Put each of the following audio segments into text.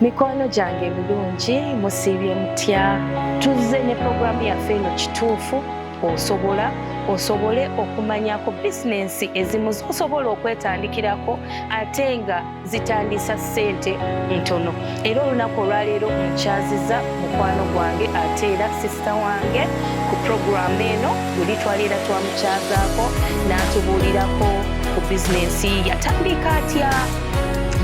mikwano gyange ebirungi musiibye mutya tuzze ne puroguramu yaffe eno kituufu osobola osobole okumanyako bizinensi ezimu zosobola okwetandikirako ate nga zitandisa ssente ntono era olunaku olwaleero nkyaziza mukwano gwange ate era sisita wange ku puroguramu eno buli twaleera twamukyazaako n'atubuulirako ku bizinensi yatandika atya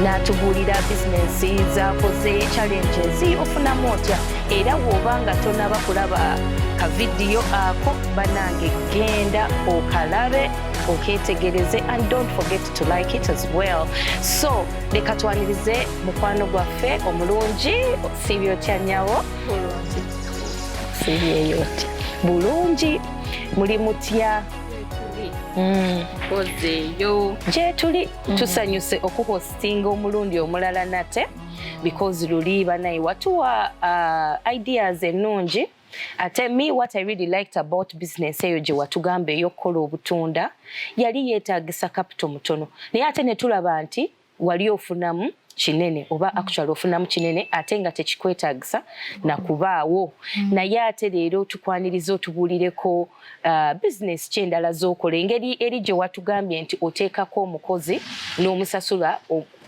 n'atubuulira bizinensi z'akoze challenges ofunamu otya era wooba nga tonaba kulaba kavidiyo ako banange genda okalabe oketegereze and don't forget to like it as well so leka twanirize mukwano gwaffe omulungi sibyotya nyawo sibyeyotya bulungi muli mutya mm. gyetuli Mm. tusanyuse okuhostinga omulundi omulala nate because luli banaye watuwa uh, ideas ennungi ate me what i really liked about business eyo gye watugamba ey'okukola obutunda yali yeetagisa capital mutono naye ate ne tulaba nti wali ofunamu kinene oba mm. actually ofunamu kinene ate nga tekikwetagisa nakubaawo mm. naye ate leero tukwaniriza otubuulireko uh, business ki endala z'okola engeri eri gye watugambye nti oteekako omukozi n'omusasula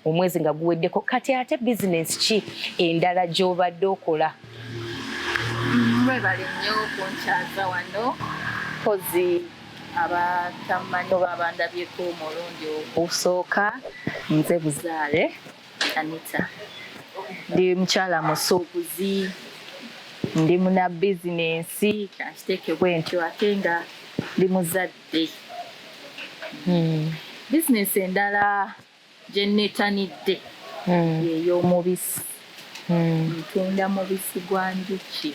omwezi nga guweddeko kati ate business ki endala gy'obadde okola mwebale nnyo kunkyaza wano kozi abatamanyi oba abandabyeko omulundi ogusooka nze buzaale Anita ndi mukyala musuubuzi ndi muna bizinensi kankiteeke bwentyo ate nga ndi muzadde hmm. bizinensi endala gye nneetanidde hmm. ey'omubisi hmm. ntunda mubisi gwa njuki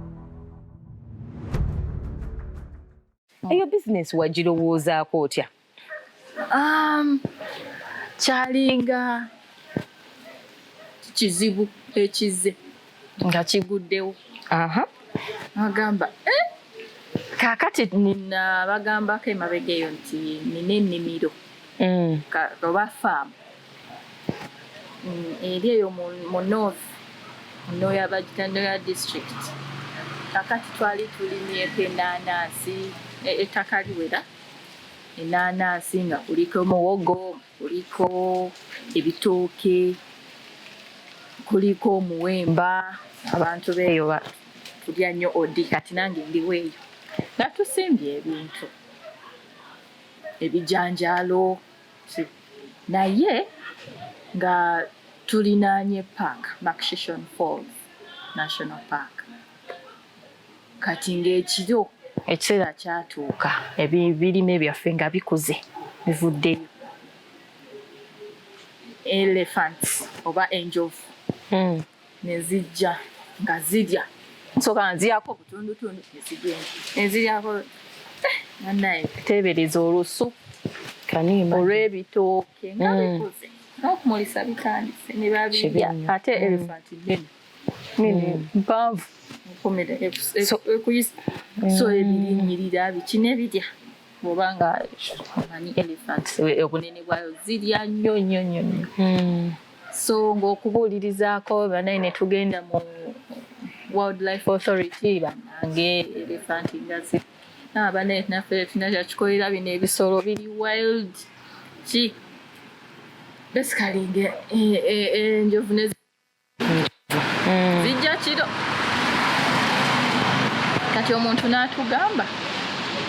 eyo bizinesi wagirowoozaako otya um, kyalinga kizibu ekizze nga kiguddewo agamba eh? kakati nina bagambako emabega eyo nti nina ennimiro mm. oba faamu mm, eri eyo mu north noya bagita noya district kakati twali tulimyeko enanansi e, ettaka liwera enanansi nga kuliko muwogo kuliko ebitooke kuliko omuwemba abantu beeyo tulya nnyo odi kati nange ndiweeyo nga tusimbye ebintu ebijanjaalo naye nga tulinaanye park Makshishon Falls National Park kati ng'ekiro ekiseera kyatuuka ebirime byaffe nga bikuze bivuddeyo elephants oba enjovu hmm. ne zijja nga zirya nsooka nziyako obutundutundu ne zigenda ne ziryako eh, banaye teebereza olusu olw'ebitooke nga mm. bikuze n'okumulisa bitandise ne babirya ate mm. elephant nnene nene mm. mpanvu ekomera e, e, e, so ebiyimirira biki ne birya kubanga omanyi elephant obunene bwayo zirya nnyo nnyo nnyo nnyo hmm. so ng'okubuulirizaako banaye ne tugenda mu wildlife authority banange elephant ngazi abanaye ah, naffe tulina kyakikolera bino ebisolo biri wild ki basically eh, eh, eh, enjovu zijja kiro kati omuntu n'atugamba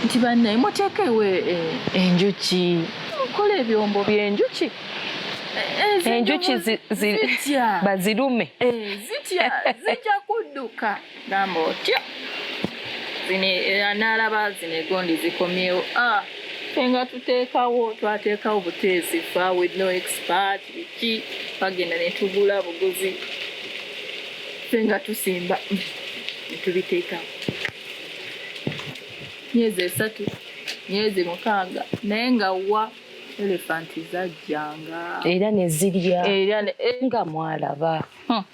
nti bannaye muteekewe eh, enjuki mukola ebyombo by'enjuki eh, enjuki bazirume eh, zitya zija kudduka gamba otya zino era n'alaba zino egondi zikomyewo ah, fe nga tuteekawo twateekawo buteesi fa with no expert biki bagenda ne tugula buguzi fe nga tusimba ne tubiteekawo myezi esatu myezi mukaaga naye nga wa elefanti zajjanga era ne zirya era eh. nga mwalaba hmm.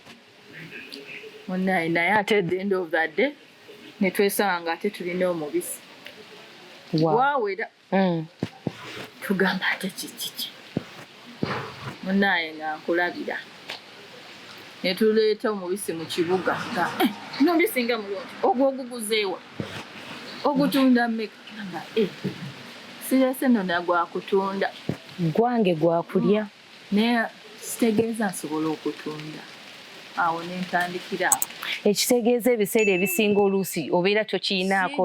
munaye naye ate at the end of the day netwesanga nga ate tulina omubisi wawera mm. tugamba ate kikiki munaye nga nkulabira netuleeta omubisi mu kibuga nga eh, nomubisi nga mulungi ogwo oguguzeewa ogutunda meka nga eh, sirese nona gwakutunda gwange gwakulya mm. Naye sitegeeza nsobola okutunda awo nentandikira ekitegeeza ebiseera ebisinga oluusi obeera tokiyinaako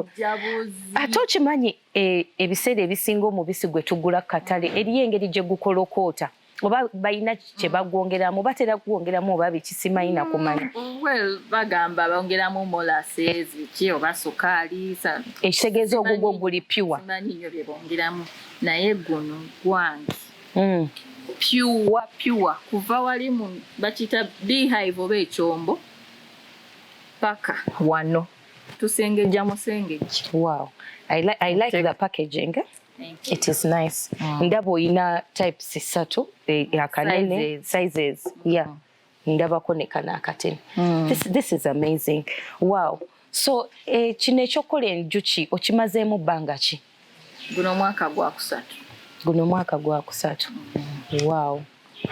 ate okimanyi e, ebiseera ebisinga omubisi gwe tugula ku katale eriyo engeri gye gukolokoota oba balina kye bagwongeramu batera kugwongeramu oba bikisimanyi nakumanya mm, well bagamba bongeramu molasses ki oba sukaali ekitegeeza ogugwo guli pure manyi nyo bye bongeramu naye guno gwange mm. pure pure kuva wali mu bakiyita beehive oba ekyombo paka wano tusengejja musengejja wow. I, li I like the packaging eh? It is nice. Mm. Ndaba olina types ssatu eh, akanene sizes. Yeah. Mm. ndabako ne kano akatini mm. this, this is amazing wow so eh, kino ekyokukola enjuki okimazeemu bbanga ki guno mwaka gwakusatu guno mwaka gwakusatu mm. wow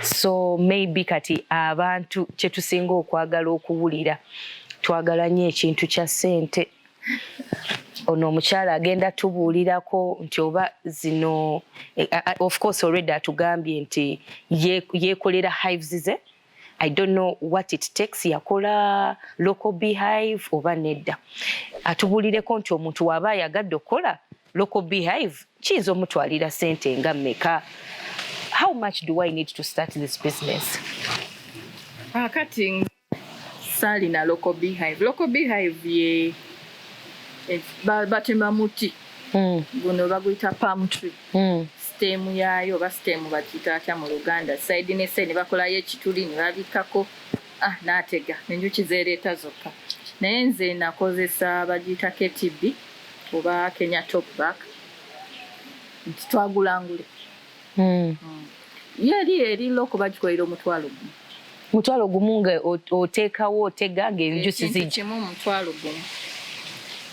so maybe kati abantu kyetusinga okwagala okuwulira twagala nyo ekintu kya sente ono omukyala agenda tubuulirako nti oba zino eh, eh, eh, of course already atugambye nti yekolera hives ze i don't know what it takes yakola local behive oba nedda atubuulireko nti omuntu waaba ayagadde okukola local behive kiyinza omutwalira sente nga meka how much do i need to start this business akati ah, Saalina local beehive. Local beehive ye eh, batema muti hmm. guno baguyita palm tree hmm. siteemu yaayo oba siteemu bakiyita atya mu luganda saidi ne saidi bakolayo ekituli ne babikkako ah, naatega enjuki zeereeta zokka naye nze nakozesa bagiyita ktb oba kenya top back nti twagulangule mm. mm. yo eri eri loko bagikoera omutwalo gumu mutwalo gumu nga oteekawo otega ngaenjusi zikimu omutwalo gumu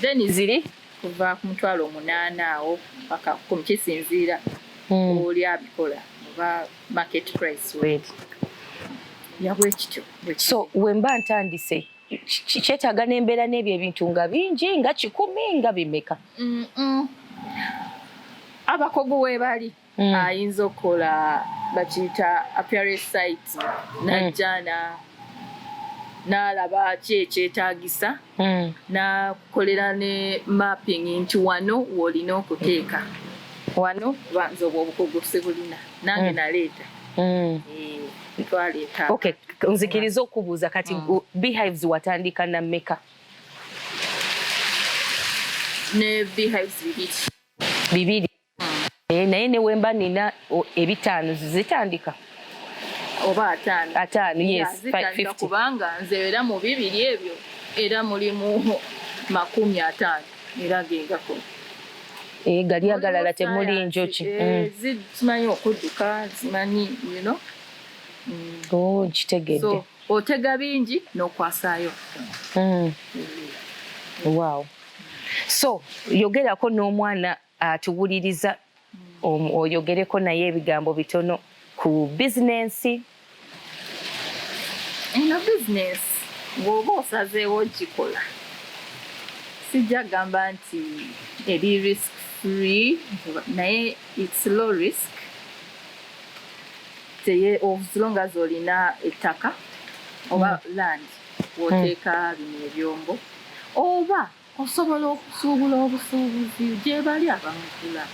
then ziri kuva ku mutwalo omunaana awo paka kumi kisinziira mm. oli abikola oba market price weri yabwekityo so wemba ntandise kyetaaga n'embeera n'ebyo ebintu nga bingi nga kikumi nga bimeka abakogu webali mm. ayinza okukola bakiyita appearance site najjana mm. n'alaba ki ekyetaagisa mm. n'akolera ne mapping nti wano w'olina okuteeka wano banza obwo obukogo sibulina nange naleeta eh. Okay, nzikiriza okubuuza kati mm. beehives watandika na meka ne beehives bibiri bibiri naye mm. naye newemba nina ebitaano zitandika oba ataano ataano yes zitandika kubanga nze era mu bibiri ebyo era mulimu makumi ataano era agengako eh, gali agalala temuli njoki eh, mm. zimanyi okudduka zimanyi yino mm. oh, nkitegedde otega bingi n'okwasaayo mm. wow so yogerako n'omwana atuwuliriza oyogereko naye ebigambo bitono ku bizinensi eno bizinensi bw'oba osazeewo okikola sijja gamba nti eri risk free naye its low risk teye oslonga zolina ettaka oba mm. land woteeka mm. bino ebyombo oba Osobola okusuubula obusuubuzi gyebali abamugula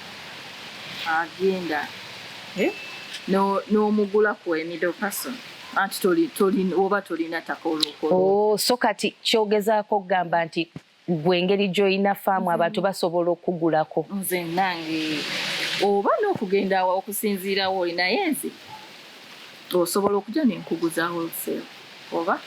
agenda eh, n'omugula ku emiddle person anti toli toli oba tolina taka olwokola oh, so kati kyogezaako okugamba nti gwe engeri gy'olina faamu abantu basobola okugulako nze nange oba n'okugenda okusinziirawo oli naye nze osobola okuja nenkugu za wholesale oba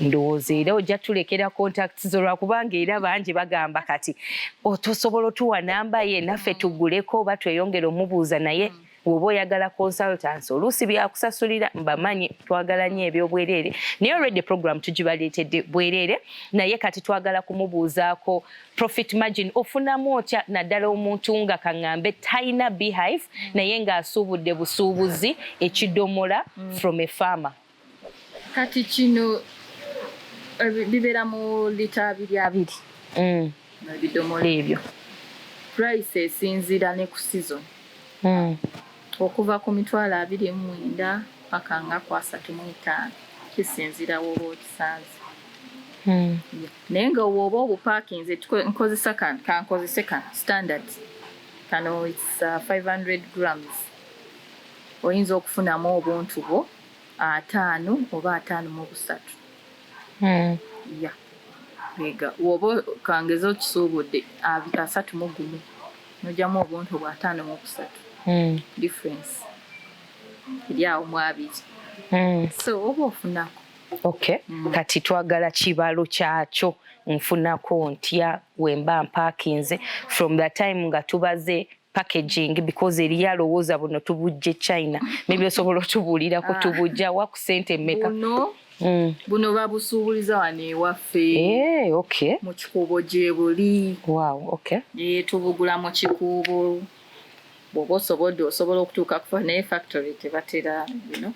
ndowooza era ojja tulekera contacts zo lwakubanga era bangi bagamba kati otosobola otuwa namba ye naffe tuguleko oba tweyongere omubuuza naye mm. woba oyagala consultants oluusi byakusasulira mbamanyi twagala nyo ebyobwereere naye olwedde program tugibaleetedde bwereere naye kati twagala kumubuuzaako profit margin ofunamu otya naddala omuntu nga kaŋŋambe talina beehive mm. naye ng'asuubudde busuubuzi ekidomola mm. from a farmer kati kino eh, bibeera mu lita abiri abiri mm. ebidomola ebyo price esinziira ne ku season okuva ku mitwalo abiri mu mwenda paka nga ku asatu mu etaano kisinziira woba okisanze Naye nga owoba obu parking ze nkozesa kan kan kozese kan standard kano it's uh, 500 grams oyinza okufunamu obuntu bwo ataano oba ataano mu busatu mm. ya ega woba kangeza okisuubudde asatu mu gumu nojamu obuntu bwa ataano mu busatu mm. difference eri awo mwabiri mm. so oba ofunako Okay. Mm. Kati twagala kibalo kyakyo nfunako ntya wemba mpakinze from the time nga tubaze packaging because eriyo alowooza buno tubujje china maybe osobola otubuulira ku ah. tubujja wa ku sente meka buno, mm. buno babusuubuliza wano ewaffe hey, eh, okay. mu kikuubo gyebuli wow, okay. e, eh, tubugula mu kikuubo bwoba osobodde osobola okutuuka kufa naye factory tebatera you know?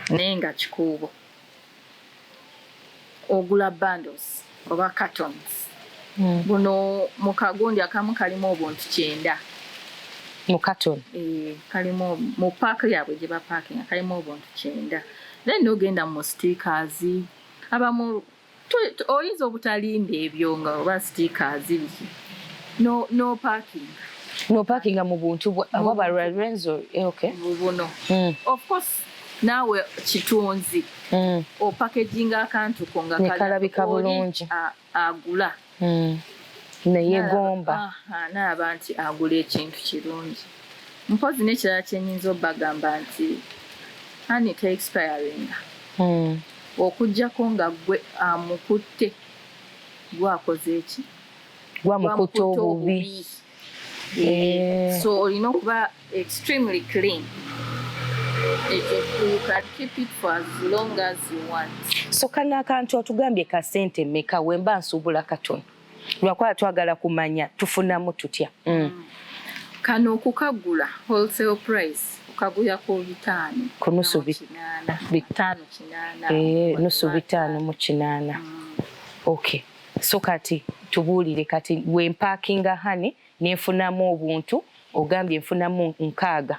Naye nga kikuubo ogula bundles oba cartons mm. buno mu kagundi akamu kalimu obuntu kyenda mu carton eh, kalimu mu paaka yaabwe gye bapaakinga kalimu obuntu kyenda then nogenda mu stickers abamu oyinza obutalinda ebyo nga oba sitiika azibiki no, no parking no parking mu buntu bwaba lorenzo eh, okay. bubuno mm. of course naawe kitunzi mm. opakeginga akantu ko nga kalabika bulungi agula hmm. neyegomba naaba nti agula ekintu kirungi mpozi nekirala kyenyinza obagamba nti ani teexpiringa hmm. okujjako nga gwe amukutte gwakoze eki gwamukutte obubi Eh, so olina okuba extremely clean so kano akantu otugambye ka sente meka wemba nsuubula katono lwakuba twagala kumanya tufunamu tutya mm. mm. kano okukagula wholesale price okagula ku bitaano kunusu bitaano kinaana eh, nusu bitaano mu kinaana mm. okay So kati tubuulire kati we mpakinga hani nenfunamu obuntu ogambye nfunamu nkaaga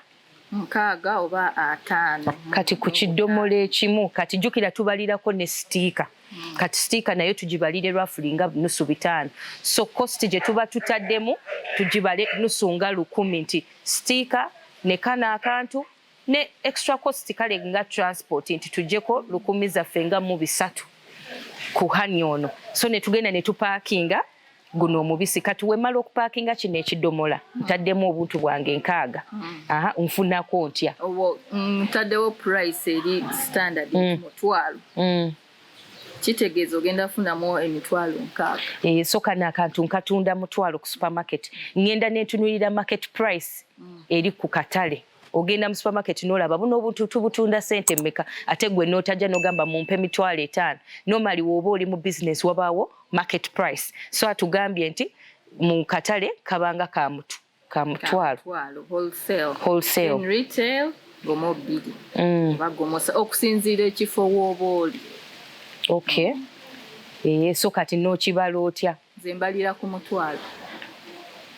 nkaaga oba ataano kati ku kidomola ekimu kati jukira tubalirako ne sitiika mm. kati sitiika nayo tugibalire rafuli nga nusu bitaano so kosti gye tuba tutaddemu tugibale nusu nga lukumi nti sitiika nekana akantu ne extra cost kale nga transport nti tujeko lukumi zaffe nga mu bisatu ku hani ono so ne tugenda ne tupakinga guno omubisi kati wemala okupakinga kino ekidomola hmm. ntaddemu obuntu bwange nkaaga hmm. aha nfunako ntya mm, ntaddewo price eri standard hmm. mutwalo kitegeeza ogenda kufunamu emitwalo nkaaga eh, so kano akantu nkatunda mutwalo ku supermarket ngenda nentunulira market price eri ku katale ogenda mu supermarket nolaba buno obuntu tubutunda sente mmeka ate gwe notajja nogamba mumpe mitwalo etaano nomali woba oli mu business wabaawo market price so atugambye nti mu katale kabanga ka mutu ka mutwalo mm. okusinziira ekifo woba oli okay mm. eye eh, so kati nokibala otya nze mbalira ku mutwalo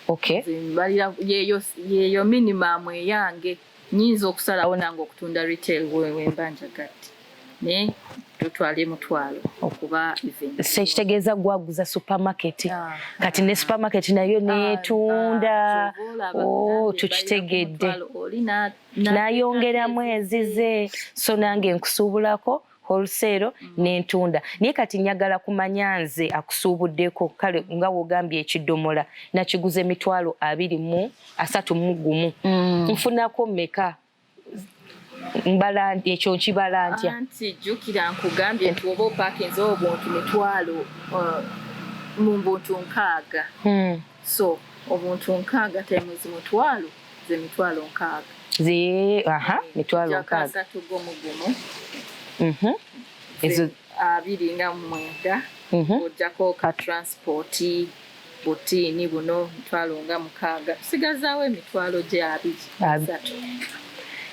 okay. nze mbalira yeyo, yeyo minimum eyange nyinza okusalawo nange okutunda retail wemba njagadde naye tutwale mutwalo okuba se kitegeeza gwaguza supermarket ah, kati ne ah. supermarket nayo ah, netunda oh, tukitegedde nayongeramu ezize so nange nkusuubulako wholesale mm. nentunda naye kati njagala kumanya nze akusuubuddeko kale nga wogambye ekidomola nakiguza emitwalo abiri mu asatu mu gumu mm. nfunako meka mbala ekyo nkibala ntya anti jjukira nkugambye nti oba opakinze obuntu mitwalo uh, mu mbuntu nkaaga mm. So omuntu nkaaga times mutwalo ze mitwalo nkaaga. Ze aha mitwalo nkaaga. Jaka asatu go mugumu. Mhm. Ezo abiri nga mwenda. Mhm. Ojako ka transport butiini buno mitwalo nga mukaaga. Tusigazaawo emitwalo gye abiri. Asatu.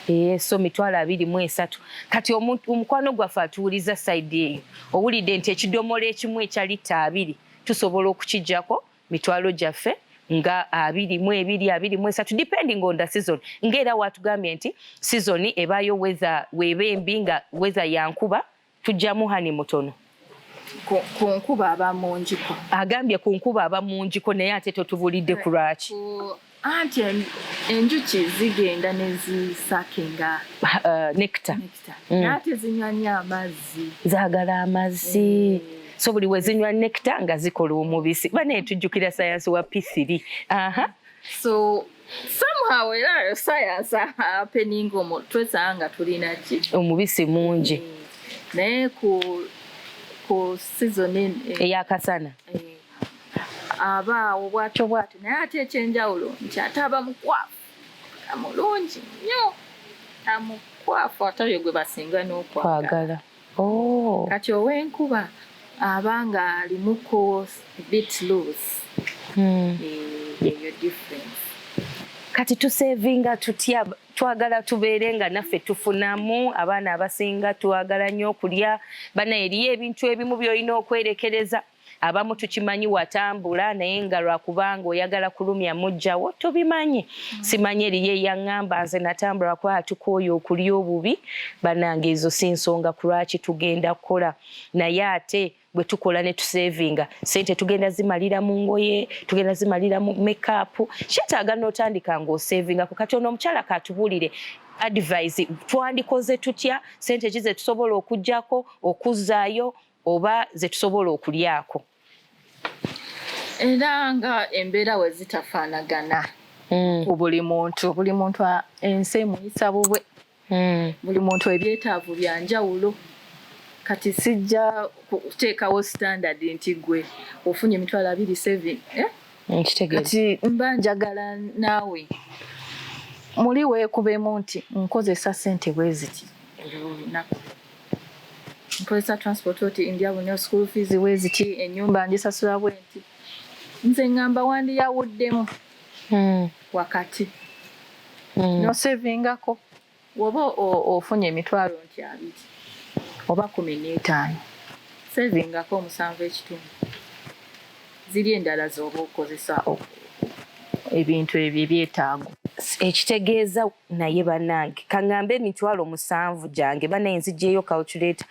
Eh, so mitwalo abiri mu esatu kati omukwano gwaffe atuwuliza saidi eyo owulidde nti ekidomola ekimu ekya litta abiri tusobola okukijjako mitwalo gyaffe nga abiri mu ebiri abiri mu esatu depending on the season nga era watugambye nti season ebaayo weza weeba embi nga weza yankuba tujjamu hani mutono ku nkuba aba mungiko agambye ku nkuba aba mungiko naye ate totubulidde ku lwaki anti enjuki zigenda nezisakinga uh, nectar mm. naate zinywa nyo amazzi zagala amazzi eh. so buli wezinywa nectar nga zikola omubisi bane tujjukira sayansi wa p3 aha so somehow era sayansi apeninga omu twesanga nga tulina ki omubisi mungi eh. naye ku ku season eyakasana eh. aba awo bwatyo bwatyo naye ate ekyenjawulo nti ate aba mukwafu amulungi nnyo amukwafu ate oyo gwe basinga n'okwagala oh. kati ow'enkuba aba nga alimuko bit loose hmm. eh, eyo difference kati tusevinga tutya twagala tubeere nga naffe tufunamu abaana abasinga twagala nnyo okulya bana eriyo ebintu ebimu byolina okwerekereza abamu tukimanyi watambula naye nga lwakubanga oyagala kulumya mujjawo tubimanyi mm. simanyi eriyo eyaŋŋamba nze natambula kuba atukooya okulya obubi banange ezo si nsonga ku lwaki tugenda kukola naye ate bwe tukola ne tusevinga sente tugenda zimalira mu ngoye tugenda zimalira mu mekapu kyetaaga n'otandika ng'osevinga ku kati ono omukyala katubuulire advise twandikoze tutya sente ki ze tusobola okugyako okuzzaayo oba ze tusobola okulyako era nga embeera we zitafaanagana hmm. ku buli muntu buli muntu ensi emuyisa bubwe hmm. buli muntu ebyetaavu bya njawulo kati sijja kuteekawo standard nti gwe ofunye emitwalo abiri seven eh? kati mba njagala naawe muli weekubemu nti nkozesa sente bweziti olunaku nkozesa transport oti ndya bunyo school fees weziti enyumba njisasula bwenti nze ngamba wandiyawuddemu hmm. wakati hmm. nosevingako woba ofunye emitwalo nti abiri oba kumi n'etaano sevingako omusanvu ekitundu ziri endala zoba okozesa ebintu ebyo ebyetaago ekitegeeza naye banange kangambe emitwalo musanvu gyange banaye nzigyeyo calculator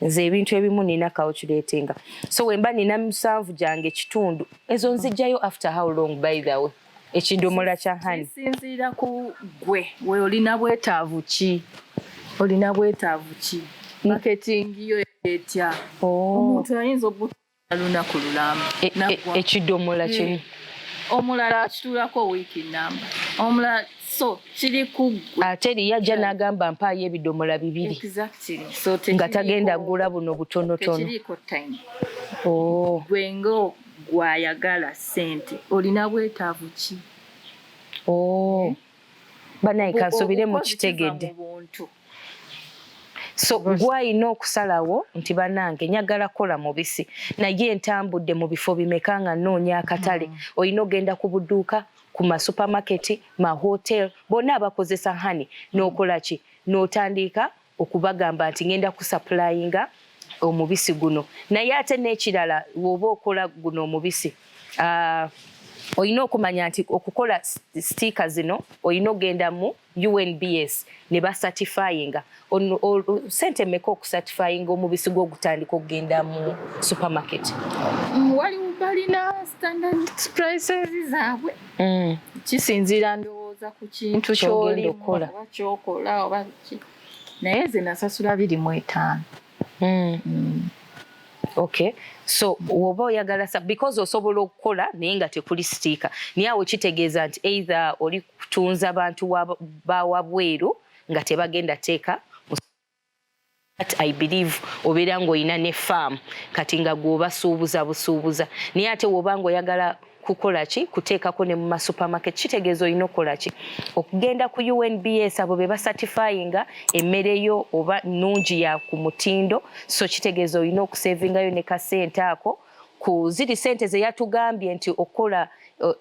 nze ebintu ebimu nina calculatinga so wemba nina musanvu gyange kitundu ezo nzigyayo after how long by the way ekidomola kya hani kisinziira ku gwe we olina bwetaavu ki olina bwetaavu ki mm. marketing yo etya oh. omuntu ayinza obuta lunaku lulamu e, e, ekidomola e, kimu omulala akitulako wiiki namba omulala so kiri kuggwe ate eriyo ajja n'agamba mpaayo ebidomola bibiri nga tagenda gula buno butonotono oh. gwe nga gwayagala sente olina bwetaavu ki oh. eh? banaye kansubire mukitegedde so gwalina okusalawo nti banange nyagala kola mubisi naye entambudde mu bifo bimeka nga noonya akatale mm. olina ogenda ku buduuka ku masupamaketi mahotel bonna abakozesa hani nokolaki notandiika okubagamba nti ngenda kusapulayinga omubisi guno naye ate n'ekirala woba okola guno omubisi uh, olina okumanya nti okukola sitiika zino olina ogenda mu unbs ne basatifayinga sente meka okusatifayinga omubisi gwo ogutandika okugenda mu supermarket mm, waliwo balina standard prices zaabwe mm. kisinziira ndowooza ku kintu kyolina kyokola oba naye nze nasasula biri mu etaano hmm. Hmm. okay so woba oyagala sa because osobola okukola naye nga tekuli sitiika naye awo kitegeeza nti either oli kutunza bantu bawabweru nga tebagenda teeka But I believe obeera ng'olina ne farm kati nga gw'obasuubuza busuubuza naye ate woba ng'oyagala kukola ki kuteekako ne mu masupermarket kitegeeza olina okukola ki okugenda ku unbs abo be basatifayinga emmere yo oba nnungi ya ku mutindo so kitegeeza olina okusevingayo ne kasente ako ku ziri sente ze yatugambye nti okukola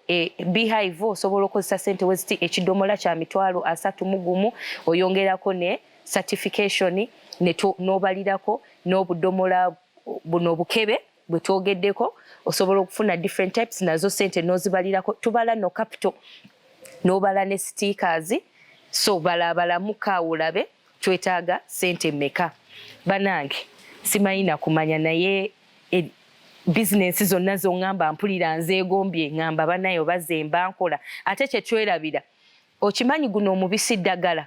e, beehive osobola okozesa sente weziti ekidomola kya mitwalo asatu mu gumu oyongerako ne certification n'obalirako n'obudomola buno obukebe gwe twogeddeko osobola okufuna different types nazo sente nozibalirako tubala no capital nobala ne stickers so balabalamuka ulabe twetaaga sente meka banange simanyi nakumanya naye e, bizinensi zonna zongamba mpulira nzeegombye ngamba banayo bazemba nkola ate kyetwerabira okimanyi guno omubisi ddagala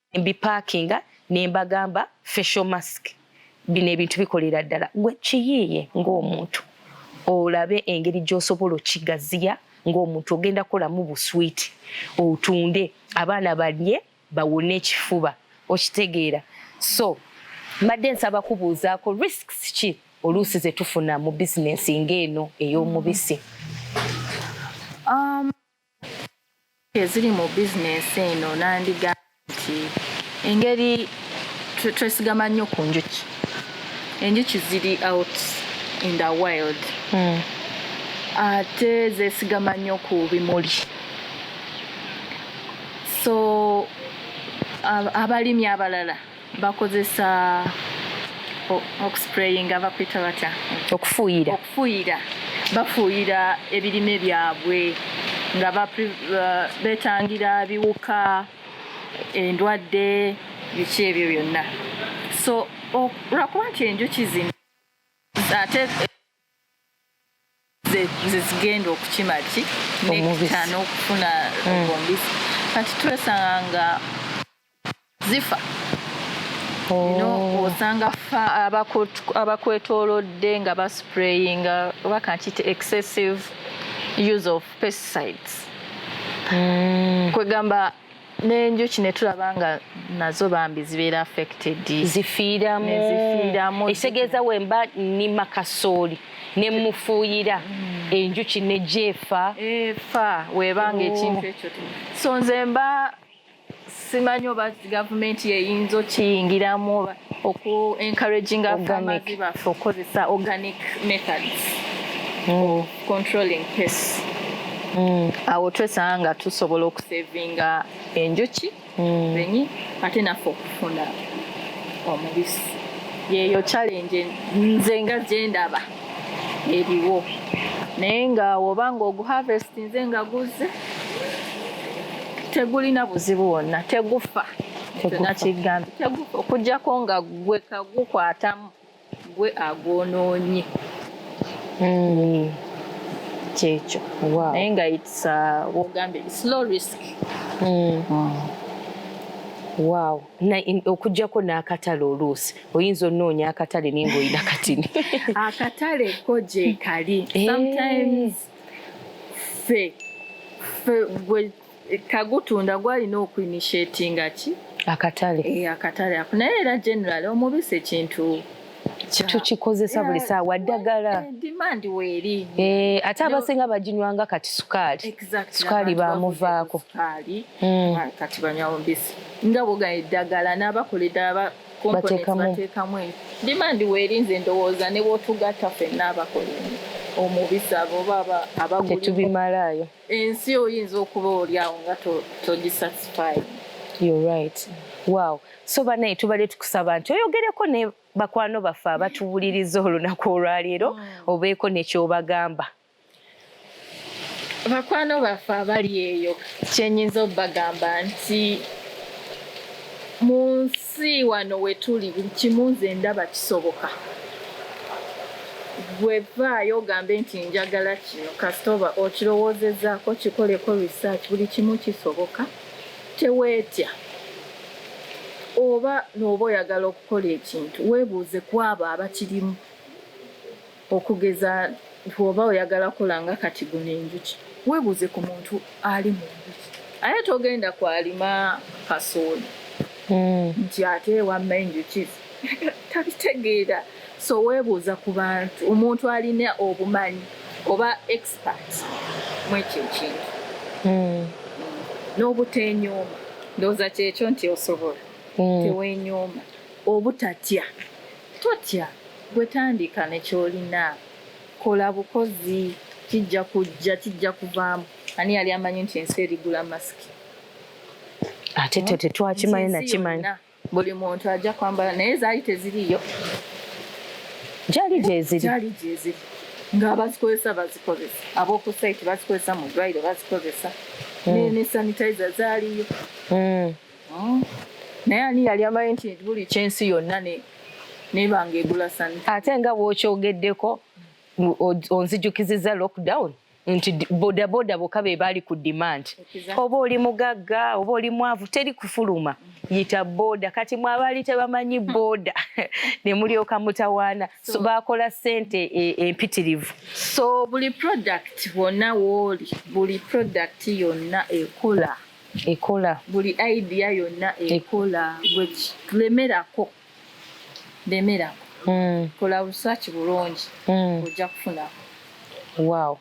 mbipakinga ne mbagamba facial mask bino ebintu bikolera ddala gwe kiyiiye ng'omuntu olabe engeri gy'osobola okigaziya ng'omuntu ogenda kukolamu buswiiti otunde abaana balye bawone ekifuba okitegeera so mbadde nsaba kubuuzaako risks ki oluusi ze tufuna mu bizinensi ng'eno ey'omubisi um, Ensimbi eziri mu bizinensi eno nandigambye nti engeri twesigama nnyo ku njuki, enjuki ziri out in the wild hmm. ate zesigama nnyo ku bimuli so abalimi abalala bakozesa okusprayinga bakwita batya okufuuyira okufuuyira bafuuyira ebirime byabwe nga uh, betangira biwuka endwadde biki ebyo byonna so olwakuba nti enjuki zino ate nze zigenda okukima ki nekita n'okufuna mm. ombisi kati twesanga nga zifa oh. osanga abakwetolodde nga basprayinga oba kankiyite excessive use of pesticides mm. kwegamba n'enjuki ne tulaba nga nazo bambi zibeera affected zifiiramu ekitegeeza wemba nnima kasooli ne mufuuyira hmm. enjuki ne gyefa efa webanga ekintu oh. ekyo so nze mba simanyi oba gavumenti yeyinza okiyingiramu oku encouraging afamazi baffe okukozesa organic methods hmm. controlling pest mm. awo twesanga nga tusobola okusevinga enjuki mm. benyi ate naffe okufuna omubisi yeyo challenge nze nga gyendaba eriwo naye nga woba nga oguharvest nze nga guzze tegulina buzibu wonna tegufa tegufa okujjako nga gwe kagukwatamu gwe agwonoonye mm. kyekyo naye nga its uh, wogambye slow risk mm. Mm. Wow. Na okujjako n'akatale oluusi oyinza onoonya akatale naye ng'olina katini akatale ko gyekali eh. sometimes fe fe gwe tagutunda gwalina okuinishetinga ki akatale eh, akatale ako naye era general omubisi ekintu tukikozesa buli saawa ddagala eh, eh, ate abasinga baginywanga kati sukaali sukaali bamuvaako hmm. ah, kati banywa mubisi nga boga eddagala n'abakola eddala bateekamu dimandi weeri nze ndowooza ne bwotugatta fenna abakola omubisi abo baba abagutetubimalaayo ensi oyinza okuba olyawo nga togisatisfy you're right wow so banaye tubadde tukusaba nti oyogereko ne bakwano baffe abatuwuliriza olunaku olwaleero hmm. obeeko nekyobagamba bakwano baffe abali eyo kyenyinza obagamba nti mu nsi si wano wetuli buli kimu nze ndaba kisoboka gwe vaayo ogambe nti njagala kino kasita oba okirowoozezaako kikoleko research buli kimu kisoboka teweetya oba nooba oyagala okukola ekintu weebuuze ku abo abakirimu Okugeza bw'oba oyagala kukola nga kati guno enjuki, weebuuze ku muntu ali mu njuki. Ate togenda kwalima kasooli hmm. nti ate wamma enjuki tabitegeera. So weebuuza ku bantu, omuntu alina obumanyi oba expert mu ekyo ekintu hmm. n'obuteenyooma. Ndowooza kyekyo nti osobola, hmm. teweenyooma, obutatya. Totya, gwe tandika ne ky'olina. Kola bukozi, kijja kujja, kijja kuvaamu. Ani yali amanyi nti ensi erigula masiki? Ate hmm? tetwakimanyi nakimanyi. Buli muntu ajja kwambala naye zaali teziriyo. Gyali gyeziri. Gyali gyeziri. Nga abazikozesa bazikozesa. Ab'oku sayiti bazikozesa mu ddwaliro bazikozesa. Hmm. Ne sanitizer zaaliyo. Hmm. Hmm. naye ani yali amanyi nti buli kyensi yonna nebanga egula sani ate nga bwokyogeddeko onzijukiziza lockdown nti bodaboda boka be baali ku demand oba oli mugagga oba oli mwavu teri kufuluma yita boda kati mwabaali tebamanyi hmm. boda ne mulyoka mutawaana so bakola sente e, empitirivu so buli product wonna wooli buli product yonna ekola ekola buli idea yonna e- ekola gwe lemerako lemerako mm. kola research bulungi mm. ojja kufunako wow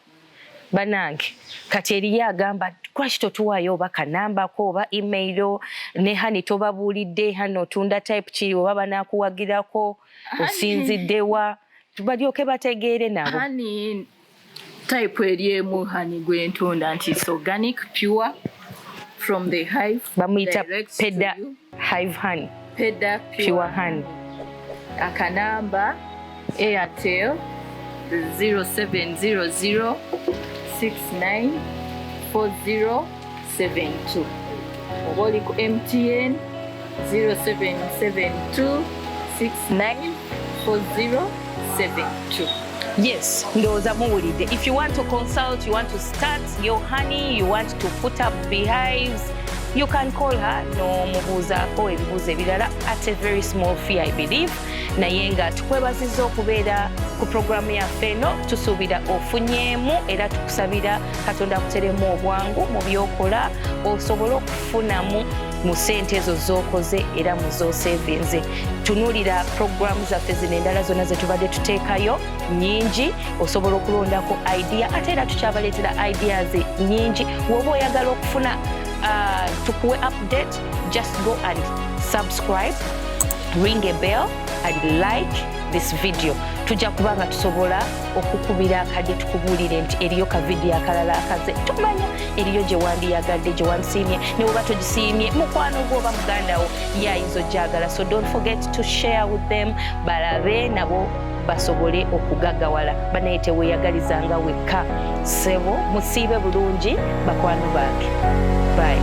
banange kati eriyo agamba lwaki totuwaayo oba kanambako oba email ne hani tobabuulidde hani otunda type ki oba banakuwagirako osinziddewa balyoke bategeere nabo type eri emu hani gwentunda nti it's organic pure from the hive bamuyita peda hive honey peda pure, pure honey akanamba airtel 0700 69 40 72 oba oli ku mtn 0772 694072 Yes, ndoza muwulide. If you want to consult, you want to start your honey, you want to put up beehives, you can call her no mubuuzaako ebibuuzo ebirala at a very small fee I believe naye nga tukwebaziza okubeera ku programu yaffe eno tusuubira ofunyeemu era tukusabira katonda akuteremu obwangu mu byokola osobole okufunamu mu sente ezo zokoze era mu zosevinze tunulira programu zaffe zino endala zonna zetubadde tuteekayo nyingi osobola okulondako idea ate era tukyabaleetera ideas nyingi woba oyagala okufuna uh, tukuwe update just go and subscribe ring a bell and like this video tujja kuba nga tusobola okukubira akadde tukubuulire nti eriyo ka vidiyo akalala akaze tumanya eriyo gye wandiyagadde gye wansiimye ne bwoba togisiimye mukwano gwo oba muganda wo ye ayinza ogyagala so don't forget to share with them balabe nabo basobole okugagawala banaye teweyagalizanga wekka sebo musiibe bulungi bakwano bange bayi